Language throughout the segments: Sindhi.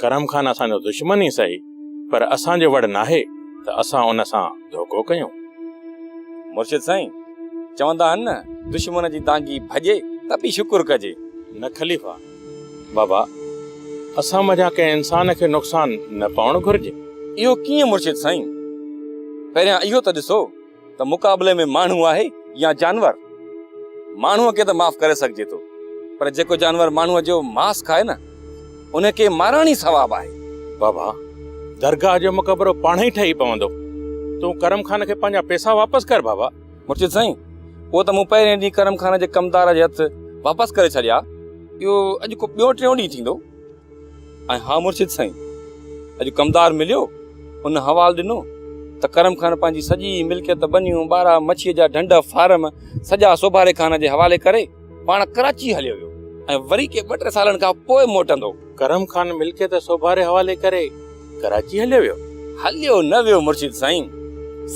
ڪرم خان اسان جو دشمن ئي سهي پر اسان جو وڙ ناهي ته اسان ان سان ڌوڪو ڪيون. مرشد سائين! چوندا آهن نه دشمن جي دانگي ڀڄي ته به شڪر ڪجي. نه خليفا! بابا اسان منجهان ڪنهن انسان کي نقصان نه پوڻ گهرجي. اهو ڪيئن مرشد سائين؟ پهريان اهو ته ڏسو ته مقابلي ۾ ماڻهو آهي يا جانور؟ ماڻهوء کي ته معاف ڪري سگهجي ٿو پر جيڪو جانور ماڻهوء جو ماس کائي نه ان کي مارڻ ئي ثواب آهي. بابا، درگاهه جو مقبرو پاڻ ئي ٺهي پوندو. تون ڪرم خان کي پنهنجا پئسا واپس ڪر بابا. مرشد سائين، اهو ته مون پهرين ڏينهن ڪرم خان جي ڪمدار جي هٿ واپس ڪري ڇڏيا. اهو اڄ کان ٻيو ٽيون ڏينهن ٿيندو. ۽ ها مرشد سائين! اڄ ڪمدار مليو، ان حوال ڏنو ته ڪرم خان پنهنجي سڄي ملڪيت، ٻنيون، ٻارا، مڇيء جا ڍنڍ، فارم، سڄا سوڀاري خان جي حوالي ڪري پاڻ ڪراچيء هليو ويو ۽ وري ڪي ٻه ٽي سالن کان پوء موٽندو. ڪرم خان ملڪيت سوڀاري حوالي ڪري ڪراچيء هليو ويو؟ هليو نه ويو مرشد سائين،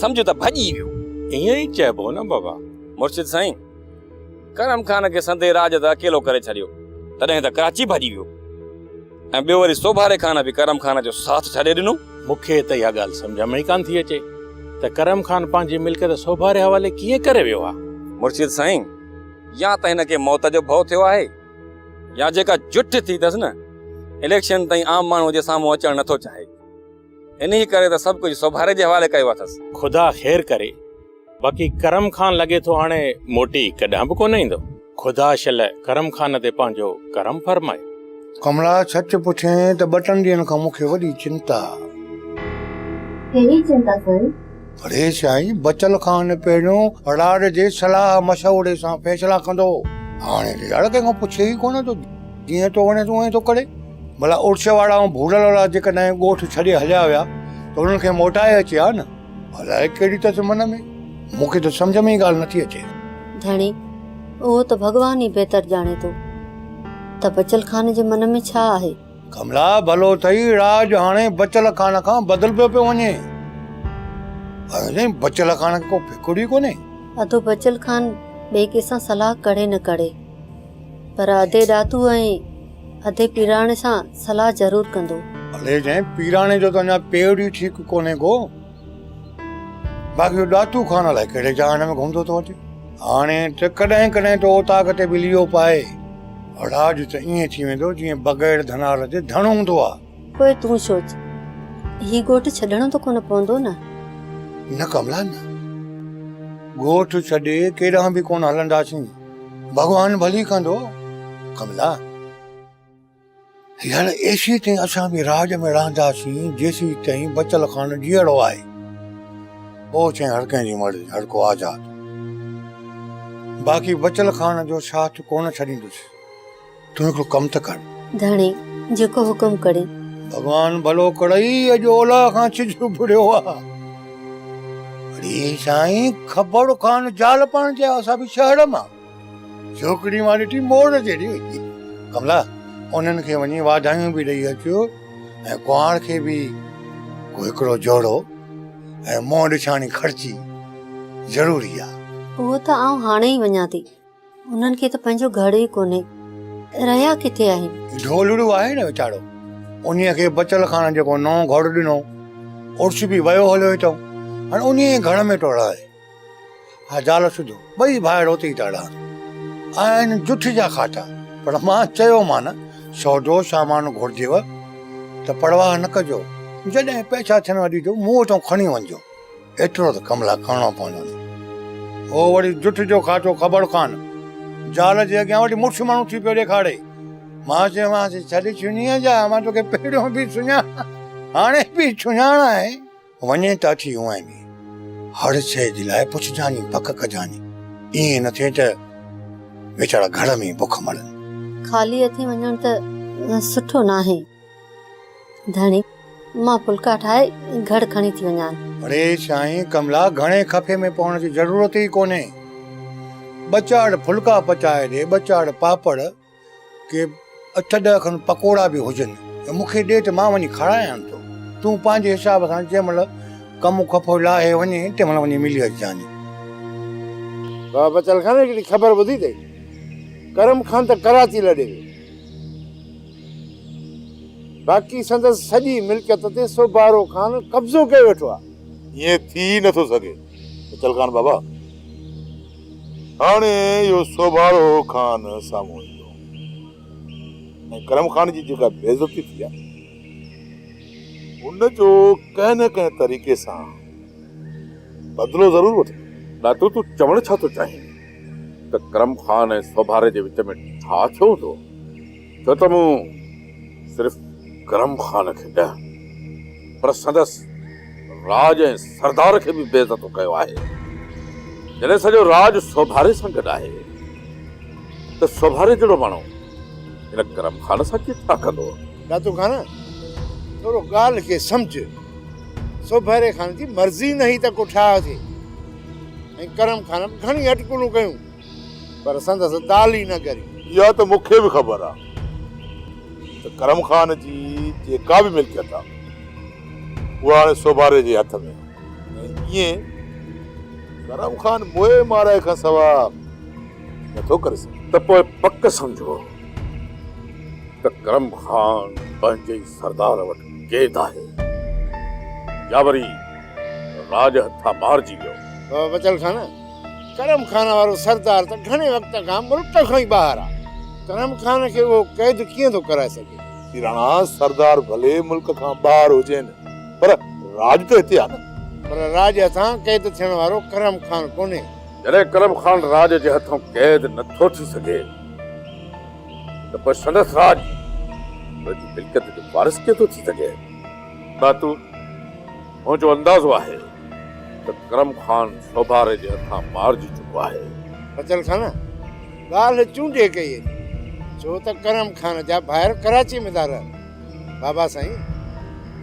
سمجهه ته ڀڄي ويو. ائين ئي چئبو نه بابا! مرشد سائين! ڪرم خان کي سندي راڄ تان اڪيلو ڪري ڇڏيو، تڏهن ته ڪراچي ڀڄي ويو ۽ ٻيو وري سوڀاري خان به ڪرم خان جو ساٿ ڇڏي ڏنو. مون کي ته اها ڳالهه سمجهه ۾ ئي ڪانه ٿي اچي ته ڪرم خان پنهنجي ملڪيت سوڀاري حوالي ڪيئن ڪري ويو ها؟ مرشد سائين، يا ته هن کي موت جو ڀؤ ٿيو آهي يا جيڪا جٺ ٿي اٿس نه، اليڪشن تائين عام ماڻهوء جي سامهون اچڻ نه ٿو چاهي. انهيء ڪري ته سڀ ڪجهه سوڀاري جي حوالي ڪيو اٿس. خدا خير ڪري، باقي ڪرم خان لڳي ٿو هاڻي موٽي ڪڏهن به ڪونه ايندو. خدا شل ڪرم خان تي پنهنجو ڪرم فرمائي. ڪملا سچ پڇين ته ٻه ٽن ڏينهن کان مون کي وڏي چنتا آ. ڪهڙي چنتا سائين؟ اڙي سائين بچل خان پهريون اڙاڙ جي صلاح مشوري سان فيصلا ڪندو هو، هاڻي تي اڙ ڪنهن کان پڇي ئي ڪونه ٿو، جيئن ٿو وڻيس اونهين ٿو ڪري. ڀلا اڙش وارا ۽ ڀولڙ وارا جيڪڏهن ڳوٺ ڇڏي هليا ويا ته انهن کي موٽائي اچي ها نه؟ الائي ڪهڙي اٿس من ۾، مون کي ته سمجهه ۾ ئي ڳالهه نٿي اچي. ڌڻي، اهو ته ڀڳوان ئي بهتر ڄاڻي ٿو ته بچل خان جي من ۾ ڇا آهي. ڪملا، ڀلو ٿئي راڄ هاڻي بچل خان کان بدلبيو پيو وڃي. اهو سائين بچل خان کي ڪو فڪر ئي ڪونهي. اڌو بچل خان ٻئي ڪنهن سان صلاح ڪري نه ڪري پر اڌي ڏاتو ۽ اڌي پيراڻي سان صلاح ضرور ڪندو. ڀلي جنهن پيراڻي جو ته اڃا پير ئي ٺيڪ ڪونهي ڪو. باقي اهو ڏاتو خان الائي ڪهڙي جهان ۾ گهمندو ٿو اچي. هاڻي ته ڪڏهن ڪڏهن ته اوطاق تي به ليئو پائي. اڙاج ته ائين ٿي ويندو جيئن بگهڙ ڌنار تي ڌڻ هوندو آ. پوء تون سوچ. هي ڳوٺ ڇڏڻو ته ڪونه پوندو نه؟ نه ڪملا نه. ڳوٺ ڇڏي ڪيڏانهن به ڪونه هلنداسين. ڀڳوان ڀلي ڪندو ڪملا. هيڻ ايسي تائين اسان به راڄ ۾ رهنداسين جيسي تائين بچل خان جيئڙو آهي. پوء چين هر ڪنهن جي مرضي هر ڪو آزاد. باقي بچل خان جو ساٿ ڪونه ڇڏيندس. تون هڪڙو ڪم ته ڪر. ڌڻي جيڪو حڪم ڪرين. ڀڳوان ڀلو ڪرئي اڄ اولا کان سج اڀريو آ. اڙي سائين خبر خان زال پاڻ جي آ سا به شهر مان. جهوڪڙي مان ڏٺي موڙ جهڙي وچي ڪملا انهن کي وڃي واڌايون به ڏئي اچيو ۽ ڪهاڙ کي به ڪو هڪڙو جوڙو ۽ منهن ڏڇاڻي خرچي ضروري آ. اهو ته آئون هاڻي ئي وڃان ٿي. انهن کي ته پنهنجو گهر ئي ڪونهي. رهيا ڪٿي آهن؟ ڍولڙو آهي نه ويچارو. انهيء کي بچل کان جيڪو نئون گهر ڏنو، عرس به ويو هليو اٿئون. هاڻي انهيء گهر ۾ ٿو رهي. ها زال سڌو، ٻئي ڀائر اتي ئي ٿا رهن. آهن جٺ جا کاٽا. پر مان چيومان، سودو سامان گهرجيو ته پرواهه نه ڪجو. جڏهن پئسا ٿينو ڏجو، مون وٽان کڻي وڃجو. ايترو ته ڪم لاء ڪرڻو پوندو نه. هو وري جٺ جو کاٽو خبر ڪان زال جي اڳيان وٺي مڙس ماڻهو ٿي پيو ڏيکاري. مان چيومانس، ڇڏ چنيء جا، مان توکي پهريون به سڃاڻان، هاڻي به سڃاڻان. وڃين ته اچي هونئن به هڙ شيء جي لاء پڇجاني پڪ ڪجاني، ائين نه ٿئي ته ويچارا گهڙ ۾ ئي بک مرن. خالي هٿين وڃڻ ته سٺو ناهي. ڌڻي، مان ڦلڪا ٺاهي گهڙ کڻي ٿي وڃان. اڙي سائين ڪملا گهڻي خفي ۾ پوڻ جي ضرورت ئي ڪونهي. ٻه چار ڦلڪا پچائي ڏي، ٻه چار پاپڙ. ڪي اٺ ڏهه کن پڪوڙا به هجن ته مون کي ڏي ته مان وڃي کارايان ٿو. تون پنهنجي حساب سان جنهن مهل ڪم کپو لاهي وڃين تنهن مهل وڃي ملي اچجانء. بابا بچل خان هڪڙي خبر ٻڌي اٿئي، ڪرم خان ته ڪراچي لڏي ويو، باقي سندس سڄي ملڪيت تي سوبارو خان قبضو ڪري ويٺو آهي. ائين ٿي ئي نٿو سگهي بچل خان بابا. هاڻي اهو سوڀارو خان سامهون ايندو ۽ ڪرم خان جي جيڪا بي عزتي ٿي آهي، ان جو ڪنهن نه ڪنهن طريقي سان بدلو ضرور وٺندو. ڏاتو تون چوڻ ڇا ٿو چاهين ته ڪرم خان ۽ سوڀاري جي وچ ۾ ڇا ٿيو هوندو؟ ڇو ته مون صرف ڪرم خان کي نه پر سندس راڄ ۽ سردار کي به بي عزتو ڪيو آهي. جڏهن سڄو راڄ سوڀاري سان گڏ آهي ته سوڀاري جهڙو ماڻهو هن ڪرم خان سان ڪيئن ڇا ڪندو؟ داتو خان ٿورو ڳالهه کي سمجهه. سوڀاري خان جي مرضي نه هئي ته ڪو ٺاهه ٿئي ۽ ڪرم خان به گهڻي اٽڪلون ڪيون. پر سندس ڳالهه ئي نه ڳري. اها ته مون کي به خبر آ ته ڪرم خان جي جيڪا به ملڪيت آ، اها هاڻي سوڀاري جي هٿ ۾ آ ۽ ائين ڪرم خان موئي مارائي کان سوا نه ٿو ڪري سگهي. ته پوء پڪ سمجهو ته ڪرم خان پنهنجي ئي سردار وٽ قيد آهي يا وري راڄ هٿان مارجي ويو. بچل خان! ڪرم خان وارو سردار ته گهڻي وقت کان ملڪ کان ئي ٻاهر آ. ڪرم خان کي اهو قيد ڪيئن ٿو ڪرائي سگهي. جي راڻا سردار ڀلي ملڪ کان ٻاهر هجين پر راڄ ته هتي آ نه. پر راڄ هٿان قيد ٿيڻ وارو ڪرم خان ڪونهي. جڏهن ڪرم خان راڄ جي هٿون قيد نه ٿو ٿي سگهي ته پوء سندس راڄ ان جي ملڪيت جو وارث ڪيئن ٿو ٿي سگهي. ڀاتو! منهنجو اندازو آهي ته ڪرم خان سوڀاري جي هٿان مارجي چڪو آهي. فضل خان ڳالهه چونڊي ڪئي اٿئي ڇو ته ڪرم خان جا ڀائر ڪراچي ۾ ٿا رهن. بابا سائين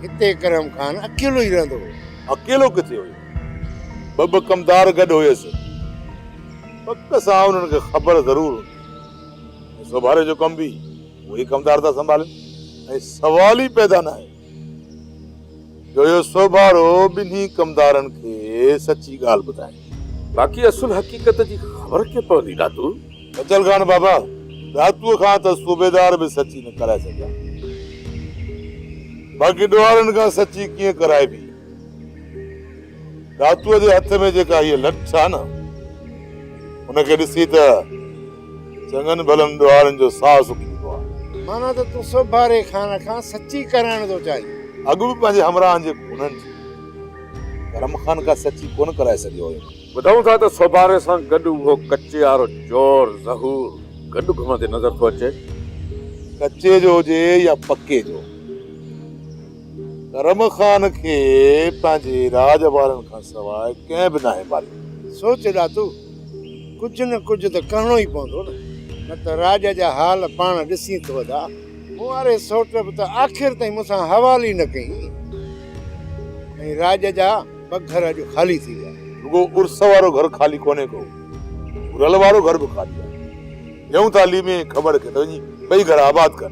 هتي ڪرم خان اڪيلو ئي رهندو هو. اڪيلو ڪٿي هيو ٻه ٻه ڪمدار گڏ هيس. پڪ سان انهن کي خبر ضرور هوندي ۽ سوڀاري جو ڪم به اهي ئي ڪمدار ٿا سنڀالين ۽ سوال ئي پيدا ناهي. جو اهو سوڀارو ٻنهي ڪمدارن کي سچي ڳالهه ٻڌائي. باقي اصل حقيقت جي خبر ڪيئن پوندي ڏاتو؟ بچل خان بابا، ڏاتوء کان ته صوبيدار به سچي نه ڪرائي سگهيا، باقي ڏوهارن کان سچي ڪيئن ڪرائبي؟ ڏاتوء جي هٿ ۾ جيڪا هيء لٺ آ نه، ان کي ڏسي ته چڱن ڀلن ڏوهارين جو ساهه سڪيندو آهي. معنيٰ ته تون سوڀاري خان کان سچي ڪرائڻ ٿو چاهين. اڳ به پنهنجي همراهن جي خونن جي ڪرم خان کان سچي ڪونه ڪرائي سگهيو هيم. ٻڌون ٿا ته سوڀاري سان گڏ اهو ڪچي وارو چور ظهور گڏ گهمندي نظر ٿو اچي. ڪچي جو هجي يا پڪي جو. ڪرم خان کي پنهنجي راڄ وارن کان سواء ڪنهن به ناهي ماريو. سوچ ڏاتو! ڪجهه نه ڪجهه ته ڪرڻو ئي پوندو نه، نه ته راڄ جا حال پاڻ ڏسين ٿو ادا. مون واري سوٽ به ته آخر تائين مون سان حوال ئي نه ڪيئي ۽ راڄ جا ٻه گهر اڄ خالي ٿي ويا. رڳو عرس وارو گهر خالي ڪونهي ڪو، گهرل وارو گهر به خالي آهي. ڏيون ٿا علي ۾ کٻڙ کي ته وڃي ٻئي گهر آباد ڪن.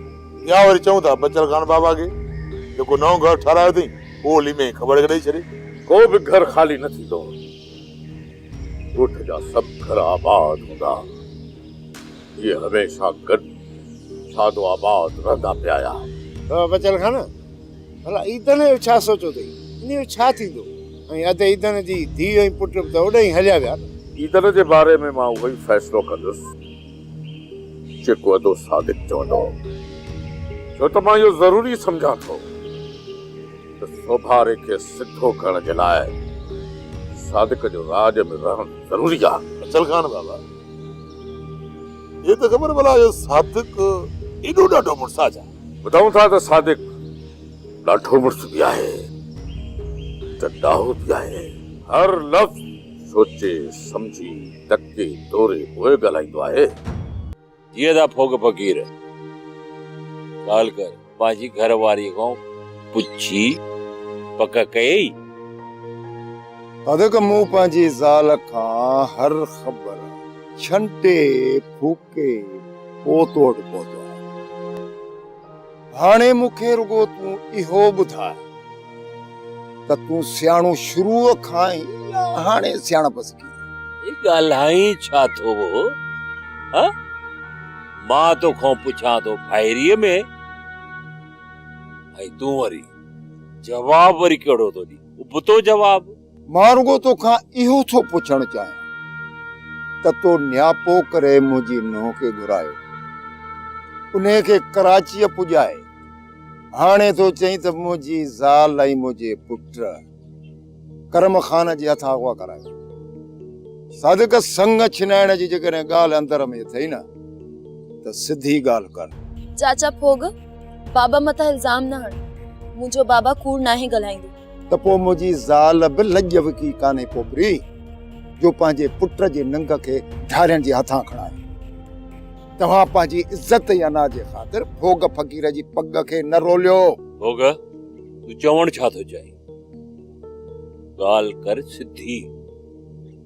يا وري چئون ٿا بچل خان بابا کي جيڪو نئون گهر ٺهرايو اٿئي اهو ليمي کٻڙ ڏئي ڇڏي. ڪو به گهر خالي نه ٿيندو ڳوٺ جا سڀ گهر آباد هوندا هي هميشه گڏ شادو آباد رهندا پيا آهن. بچل خان ڀلا عيدن جو ڇا سوچيو اٿئي انهي جو ڇا ٿيندو ۽ اڌ عيدن جي ڌيء ۽ پٽ به ته اوڏانهن ئي هليا ويا نه. عيدن جي باري ۾ مان اهو ئي فيصلو ڪندس. جيڪو ادو صادق چوندو هو، ڇو ته مان اهو ضروري سمجهان ٿو ته سوڀاري کي سڌو ڪرڻ جي لاء صادق جو راڄ ۾ رهڻ ضروري آهي. اچل خان بابا، هي ته خبر ڀلا جو صادق ايڏو ڏاڍو مڙس آ ڇا؟ ٻڌائون ٿا ته صادق ڏاڍو مڙس به آهي ته ڏاهو به آهي. هر لفظ سوچي سمجهي ڌڪي ڍوري پوء ڳالهائيندو آهي. جيئن ته ڦوڳ فقير ڳالهه ڪري پنهنجي گهر واريء کان پڇي پڪ ڪيئي. ڌڌڪ مون پنهنجي زال کان هر خبر ڇنٽي ڦوڪ. ڪي پوء تو وٽ پهتو آهيان. هاڻي مون کي رڳو تون اهو ٻڌاء ته تون سياڻو شروع کان آهين يا هاڻي سياڻپ سکي ٿو؟ هي ڳالهائين ڇا ٿو هه؟ مان تو کان پڇان ٿو ڀائريء ۾ ۽ تون وري جواب وري ڪهڙو ٿو ڏين؟ ابتو جواب. مان رڳو تو کان اهو ٿو پڇڻ چاهيان ته تو نياپو ڪري منهنجي نونهن کي گهرايو، انهيء کي ڪراچيء پڄائي، هاڻي ٿو چئين ته منهنجي زال ۽ منهنجي پٽ ڪرم خان جي هٿان اغوا ڪرايو. صادق سڱ ڇنائڻ جي جيڪڏهن ڳالهه اندر ۾ اٿئي نه ته سڌي ڳالهه ڪر. چاچا ڦوڳ، بابا مٿان الزام نه هڻ، منهنجو بابا ڪوڙ ناهي ڳالهائيندو. ته پوء منهنجي زال به لڄ وڪي ڪانهي پوپري جو پنهنجي پٽ جي ننگ کي ڍارين جي هٿان کڻائي. توهان پنهنجي عزت يا ناز جي خاطر ڀوڳ فقير جي پڳ کي نه روليو. ڀوڳ، تون چوڻ ڇا ٿو چاهين؟ ڳالهه ڪر سڌي.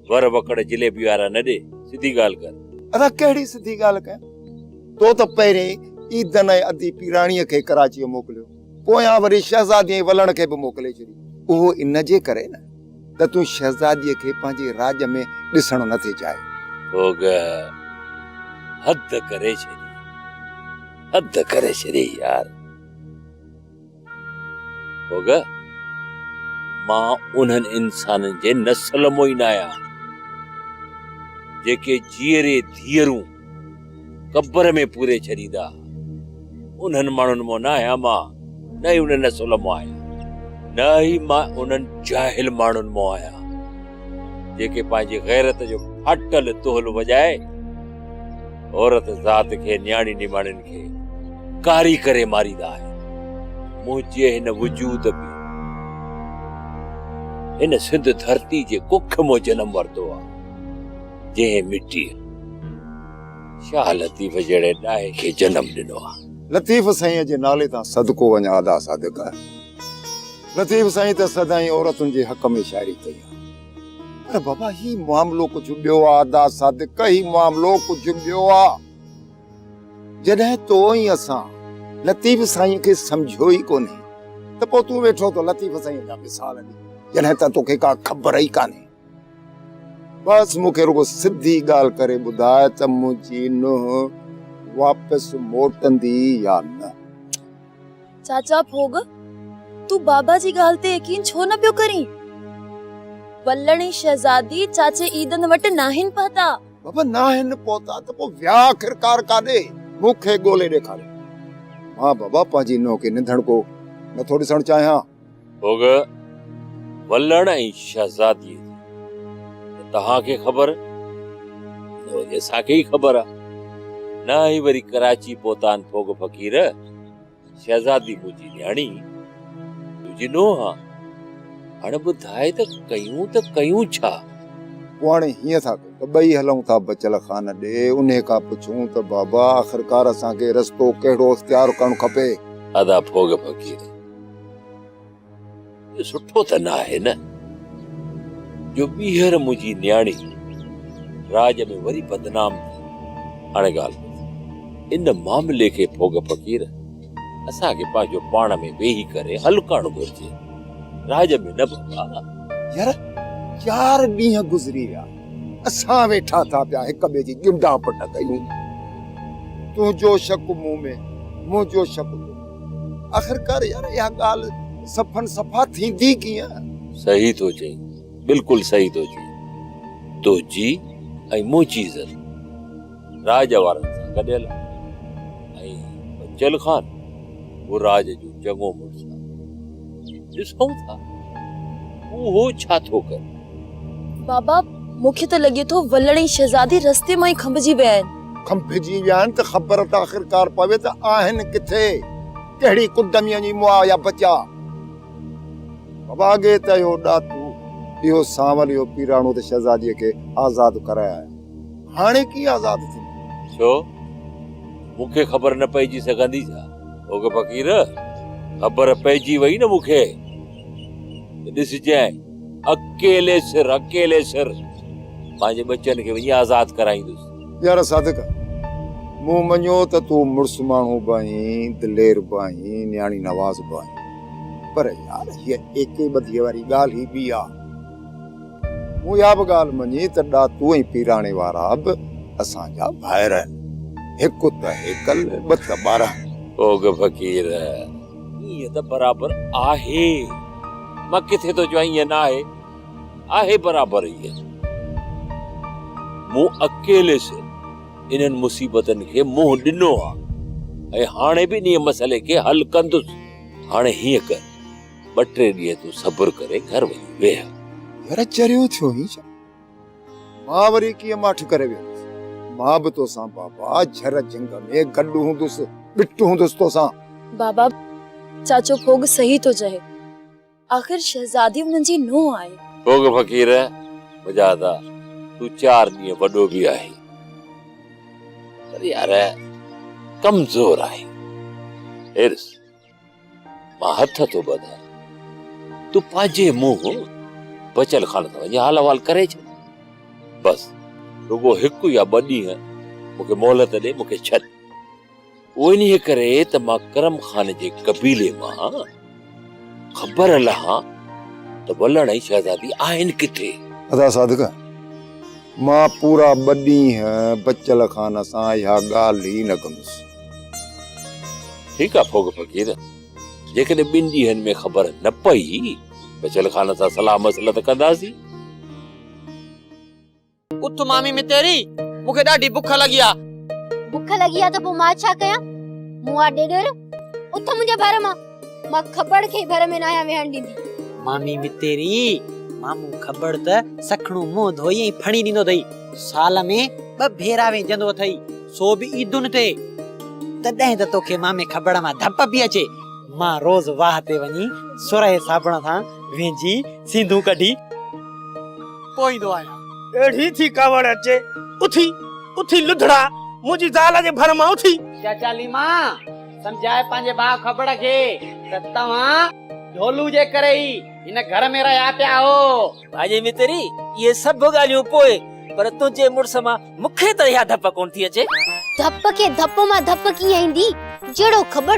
ور وڪڙ جليبي وارا نه ڏي، سڌي ڳالهه ڪر. اسان ڪهڙي سڌي ڳالهه ڪيا؟ تو ته پهرين عيدن ۽ ادي پيراڻيء کي ڪراچيء موڪليو. پويان وري شهزاديء جي ولڻ کي به موڪلي ڇڏي. اهو ان جي ڪري نه ته تون شهزاديء کي پنهنجي راڄ ۾ ڏسڻ نه ٿي چاهين. اوگهه حد ڪري ڇڏي. حد ڪري ڇڏي يار. اوگهه مان انهن انسانن جي نسل مون ئي نه آهيان، جيڪي جيئري ڌيئرون قبر ۾ پوري ڇڏيندا. انهن ماڻهن مان نه آهيان مان، نه ئي انهن نسل مان آهيان. نه ئي مان انهن جاهل ماڻهن مان آهيان، جيڪي پنهنجي غيرت جو ڦاٽل دهل وڄائي، عورت ذات کي، نياڻي نماڻين کي ڪاري ڪري ماريندا آهن. منهنجي هن وجود به هن سنڌ ڌرتي جي ڪک مان جنم ورتو آهي. جنهن مٽيء شاهه لطيف جهڙي ڏاهي کي جنم ڏنو آ. لطيف سائينء جي نالي تان صدقو وڃان ادا صادق لطيف سائين ته سدائين عورتن جي حق ۾ شاعري ڪئي آ. پر بابا هي معاملو ڪجهه ٻيو آ ادا صادق هي معاملو ڪجهه ٻيو آ. جڏهن تو ۽ اسان لطيف سائينء کي سمجهيو ئي ڪونهي ته پوء تون ويٺو ٿو لطيف سائينء جا مثال ڏين جڏهن ته توکي ڪا خبر ئي ڪانهي. بس مون کي رڳو سڌي ڳالهه ڪري ٻڌاء ته منهنجي نونهن واپس موٽندي يا نه. چاچا ڀوڳ، تون بابا جي ڳالهه تي يقين ڇو نه پيو ڪرين؟ ولڻي شهزادي چاچي عيدن وٽ ناهن پهتا. بابا ناهن پهتا ته پوء ويا آخرڪار ڪاڏي؟ مون کي ڳولي ڏيکاريو. مان بابا پنهنجي نونهن کي ننڌڻڪو نٿو ڏسڻ چاهيان. ڀوڳ ولڻ ۽ شهزاديء جي ته توهان کي خبر، نه وري اسان کي ئي خبر آ. نه هي وري ڪراچي پهتان ڀوڳ فقير، شهزادي منهنجي نياڻي، تنهنجي نونهن آ. هاڻي ٻڌاء ته ڪيون ته ڪيون ڇا؟ پوء هاڻي هيئن ٿا ڪيون ته ٻئي هلون ٿا بچل خان ڏي. انهيء کان پڇون ته بابا، آخرڪار اسان کي رستو ڪهڙو اختيار ڪرڻ کپي؟ ادا ڀوڳ فقير! سٺو ته نه آهي نه جو ٻيهر منهنجي نياڻي راڄ ۾ وري بدنام ٿي. هاڻي ڳالهه ٻڌ، ان معاملي کي ڦوڳ فقير، اسان کي پنهنجو پاڻ ۾ ويهي ڪري حل ڪرڻ گهرجي. راڄ ۾ نه ڀڳا. يار چار ڏينهن گذري ويا، اسان ويٺا ٿا پيا هڪ ٻئي جي ڳنڊا پٽ ڪيون. تنهنجو شڪ مون ۾، منهنجو شڪ تو ۾. آخرڪار يار اها ڳالهه صفن صفا ٿيندي ڪيئن؟ صحيح ٿو چئين بلڪل صحيح ٿو چئين تنهنجي ۽ منهنجي عزت راڄ وارن سان گڏيل آهي ۽ بچل خان به راڄ جو چڱو مڙس آهي ڏسون ٿا اهو ڇا ٿو ڪري. بابا مون کي ته لڳي ٿو ولڻي شهزادي رستي مان ئي کنڀجي ويا آهن. کنڀجي ويا آهن ته خبر ته آخرڪار پوي ته آهن ڪٿي، ڪهڙي ڪنڊ ۾ وڃي مئا يا بچا. واڳي ته اهو ڏاتو، اهو سانول، اهو پيراڻو ته شهزاديء کي آزاد ڪرايا آهن. هاڻي ڪيئن آزاد ٿيندو؟ ڇو؟ مون کي خبر نه پئجي سگهندي ڇا؟ اوگهه فقير، خبر پئجي وئي نه مون کي ته ڏسجانء، اڪيلي سر، اڪيلي سر پنهنجي ٻچن کي وڃي آزاد ڪرائيندس. يار صادق! مون مڃيو ته تون مڙس ماڻهو به آهين، دلير به آهين، نياڻي نواز به آهين، پر يار هيء ايڪي ٻڌيء واري ڳالهه ئي ٻي آ. مون اها به ڳالهه مڃي ته ڏاتو ۽ پيراڻي وارا به اسان جا ڀائر آهن، هڪ ته هيڪل، ٻه ته ٻارهن. اوگهه فقير! ائين ته برابر آهي، مان ڪٿي ٿو چوان ائين ناهي. آهي برابر هيء ته مون اڪيلي سر انهن مصيبتن کي منهن ڏنو آهي ۽ هاڻي به انهيء مسئلي کي حل ڪندس. هاڻي هيئن ڪر، ٻه ٽي ڏينهن تون صبر ڪري گهر وڃي ويهه. يار چريو ٿيو هين ڇا؟ مان وري ڪيئن ماٺ ڪري ويهندس؟ مان به توسان بابا جھر جنگ ۾ گڏ هوندس، ٻٽ هوندس توسان. بابا، چاچو ڀوڳ صحيح ٿو چهي. آخر شهزادي انهن جي نونهن آهي. سوگه فقير، مجاهده تون چار ڏينهن وڏو به آهين پر يار ڪمزور آهين. حرص، مان هٿ ٿو ٻڌان تون پنهنجي منهن بچل خانه تان وڃي حال احوال ڪري ڇڏ. بس رڳو هڪ يا ٻه ڏينهن مون کي مهلت ڏي، مون کي ڇڏ. اهو انهيء ڪري ته مان ڪرم خان جي قبيلي مان آهيان. خبر لهان ته ولڻ ۽ شهزادي آهن ڪٿي؟ ادا صادق، مان پورا ٻه ڏينهن بچل خان سان اها ڳالهه ئي نه ڪندس. ٺيڪ آهي ڦوڳ فقير، جيڪڏهن ٻن ڏينهن ۾ خبر نه پئي، بچل خان سان صلاح مصلحت ڪنداسين. اٿ مامي متيري، مون کي ڏاڍي بک لڳي آ. بک لڳي آ ته پوء مان ڇا ڪيان؟ مون آ ڏيڏر، اٿ منهنجي ڀر مان. مان کٻڙ کي ڀر ۾ ناهيان ويهڻ ڏيندي. مامي متيري، مامو کٻڙ ته سکڻو منهن ڌوئي ۽ ڦڻي ڏيندو اٿئي. سال ۾ ٻه ڀيرا ويهجندو اٿئي، سو به عيدن تي. تڏهن ته توکي مامي کٻڙ مان ڌپ پئي اچي. مان روز واهه تي وڃي سرهي صابڻ سان وينجهي سينڌون ڪڍي. پوئيندو آهيان. اهڙي ٿي ڪاوڙ اچي اٿي، اٿي لڌڙا، منهنجي زال جي ڀر مان اٿي. چاچا ليما، سمجهائي پنهنجي ڀاء کبڙ کي ته توهان ڍولو جي ڪري ئي هن گهر ۾ رهيا پيا آهو. ڀاڄي متري، اهي سڀ ڳالهيون پوء، پر تنهنجي مڙس مان مون کي ته اها ڌپ ڪونه ٿي اچي. ڌپ کي ڌپ مان ڌپ ڪيئن ايندي، جهڙو کبڙ.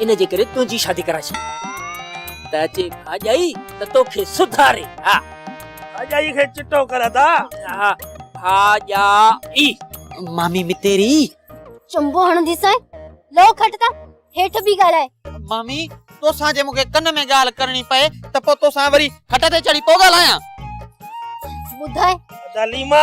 ان جي ڪري تنهنجي شادي ڪرائي ڇڏي ته اچي ڀاڄائي ته توکي سڌاري ها ڀاڄائي کي چٽو ڪر ادا ها ڀاڄائي مامي متيري چنبو هڻندي سائين لو کٽ ته هيٺ بي ڳالهائي مامي توسان جي مونکي ڪن ۾ ڳالهه ڪرڻي پئي ته پو توسان وري کٽ تي چڙهي پو ڳالهايان ٻڌاء ادا ليما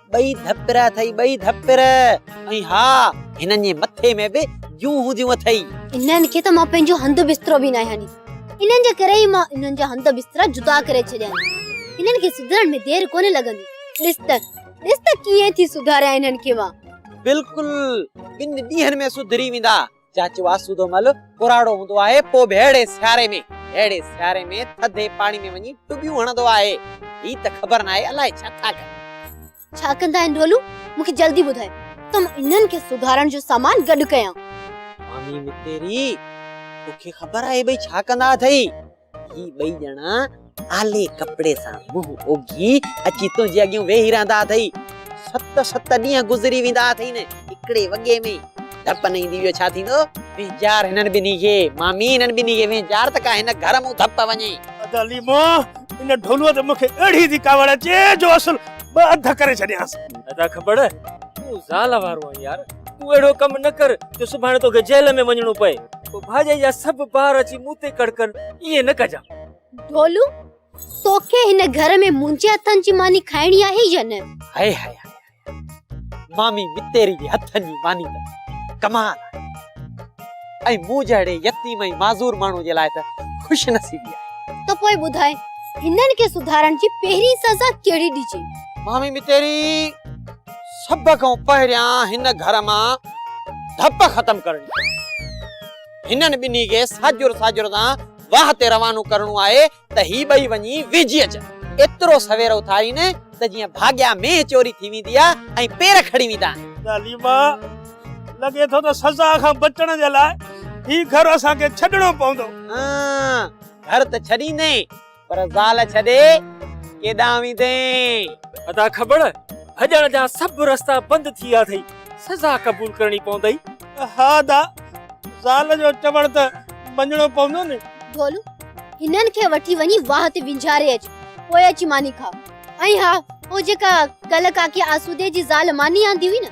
ٻئي ڌپر اٿئي ٻئي ڌپر ۽ ها هنن جي مٿي ۾ به جون هونديون اٿئي. انهن کي ته مان پنهنجو هنڌ بسترو به ناهي هڻي. انهن جي ڪري ئي مان انهن جا هنڌ بسترا جدا ڪري ڇڏيا آهن. هنن کي سڌرڻ ۾ دير ڪونه لڳندي. ڏس ته ڏس ته ڪيئن ٿي سڌاريان انهن کي مان. بلڪل ٻن ڏينهن ۾ سڌري ويندا. چاچو آسودو مھل ڪراڙو ھوندو آھي پوء به اھڙي سياري ۾ اھڙي سياري ۾ ٿڌي پاڻي ۾ وڃي ٽٻيون ھڻندو آھي. ھي ته خبر ناھي الاء ڇا ٿا ڪن. ڇا ڪندا آھن ڍولو مون کي جلدي ٻڌاء ته مان انھن کي سڌارڻ جو سامان گڏ ڪيان. مامي متيري توکي خبر آھي ٻئي ڇا ڪندا اٿئي. هي ٻئي ڄڻا آلي ڪپڙي سان منهن اوگهي اچي تنهنجي اڳيون ويهي رهندا اٿئي. ست ست ڏينهن گذري ويندا اٿئي نه هڪڙي وڳي ۾ ڌپ نه ايندي اهو ڇا ٿيندو؟ وينجهار هنن ٻنهي کي. مامي هنن ٻنهي کي وينجهار ته ڪا هن گهر مون ڌپ وڃي. ادا ليمو ان ڍولوء ته مون کي اهڙي ٿي ڪاوڙ اچي جو اصل ٻه اڌ ڪري ڇڏيانس. ادا کٻڙ تون زال وارو آهين يار. تون اهڙو ڪم نه ڪر جو سڀاڻي توکي جيل ۾ وڃڻو پئي. پوء ڀاڄائي جا سڀ بار اچي مون تي ڪڙڪن، ائين نه ڪجان. ڍولو، توکي هن گهر ۾ منهنجي هٿن جي ماني کائڻي آهي يا نه؟ هاء هاء هاء هاء. مامي متيري جي هٿن جي ماني ته ڪمال آهي. ۽ مون جهڙي يتيم ۽ معذور ماڻهو جي لاء ته خوش نصيبي آهي. ته پوء ٻڌاء، هنن کي سڌارڻ جي پهرين سزا ڪهڙي ڏجي؟ مامي متيري! سڀ کان پهريان هن گهر مان ڌپ ختم ڪرڻي پوي. هنن ٻنهي کي ساڄور ساڄور سان واهه تي روانو ڪرڻو آهي ته هي ٻئي وڃي ويجهي اچن. ايترو سوير اٿارين ته جيئن ڀاڳيا مينهن چوري ٿي ويندي آهي ۽ پير کڙي ويندا آهن. تعليما، لڳي ٿو ته سزا کان بچڻ جي لاء هي گهر اسان کي ڇڏڻو پوندو. آن، گهر ته ڇڏيندين. پر زال ڇڏي ڪيڏانهن ويندين؟ ادا کٻڙ، ڀڄڻ جا سڀ رستا بند ٿي ويا اٿئي، سزا قبول ڪرڻي پوندئي. ها ادا، زال جو چوڻ ته مڃڻو پوندو نه. ڍولو، هنن کي وٺي وڃي واهه تي وينجهاري اچ، پوء اچي ماني کاء. ۽ ها، هو جيڪا ڪلهه ڪاڪي آسودي جي زال ماني آندي هئي نه،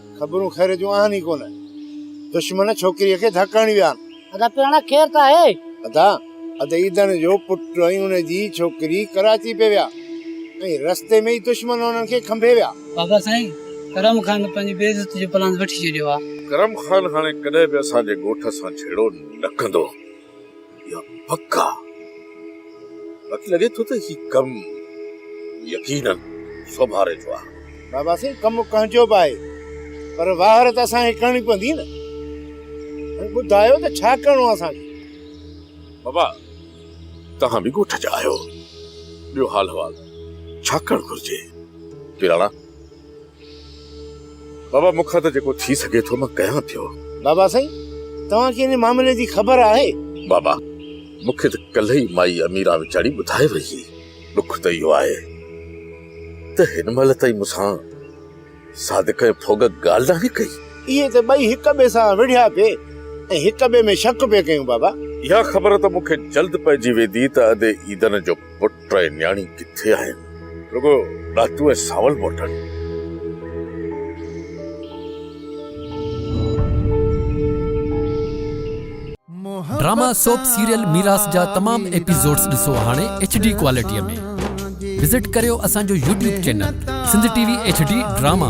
خبرون خير جون آهن ئي ڪونه. دشمن ڇوڪريء کي ڌڪ هڻي ويا آهن. ادا پياڻا خير ته آهي؟ ادا، اڌ عيدن جو پٽ ۽ ان جي ڇوڪري ڪراچي پئي ويا ۽ رستي ۾ ئي دشمن انهن کي کنڀي ويا. بابا سائين، ڪرم خان پنهنجي بي عزتي جو پلان وٺي ڇڏيو آهي. ڪرم خان هاڻي ڪڏهن به اسان جي ڳوٺ سان جهيڙو نه ڪندو. يا پڪا باقي لڳي ٿو ته هي ڪم يقينن سوڀاري ٿو آهي. بابا سائين ڪم ڪنهن جو به آهي پر واهر ته اسان کي ڪرڻي پوندي نه. هاڻي ٻڌايو ته ڇا ڪرڻو آهي اسان کي؟ بابا توهان به ڳوٺ جا آهيو ٻيو حال حوال ڇا ڪرڻ گهرجي؟ پيراڻا! بابا مون کان ته جيڪو ٿي سگهي ٿو مان ڪيان ٿيو. بابا سائين توهان کي ان معاملي جي خبر آهي؟ بابا مون کي ته ڪلهه ئي مائي اميرا ويچاري ٻڌائي وئي هئي. ڏک ته اهو آهي ته هن مهل تائين مون سان صادق ۽ ڦوڳ ڳالهه ناهي ڪئي. اهي ته ٻئي هڪ ٻئي سان وڙهيا پي ۽ هڪ ٻئي ۾ شڪ پي ڪيون بابا. اها خبر ته مون کي جلد پئجي ويندي ته ادي عيدن جو پٽ ٽئي نياڻي ڪٿي آهن؟ رڳو ڏاتو ۽ سانول موٽن. ڊراما سوپ سيريل ميراث جا تمام ايپيسوڊز ڏسو هاڻي ايڇ ڊي ڪوالٽيء ۾ وزٽ ڪريو اسان جو YouTube channel Sindh T V H D drama.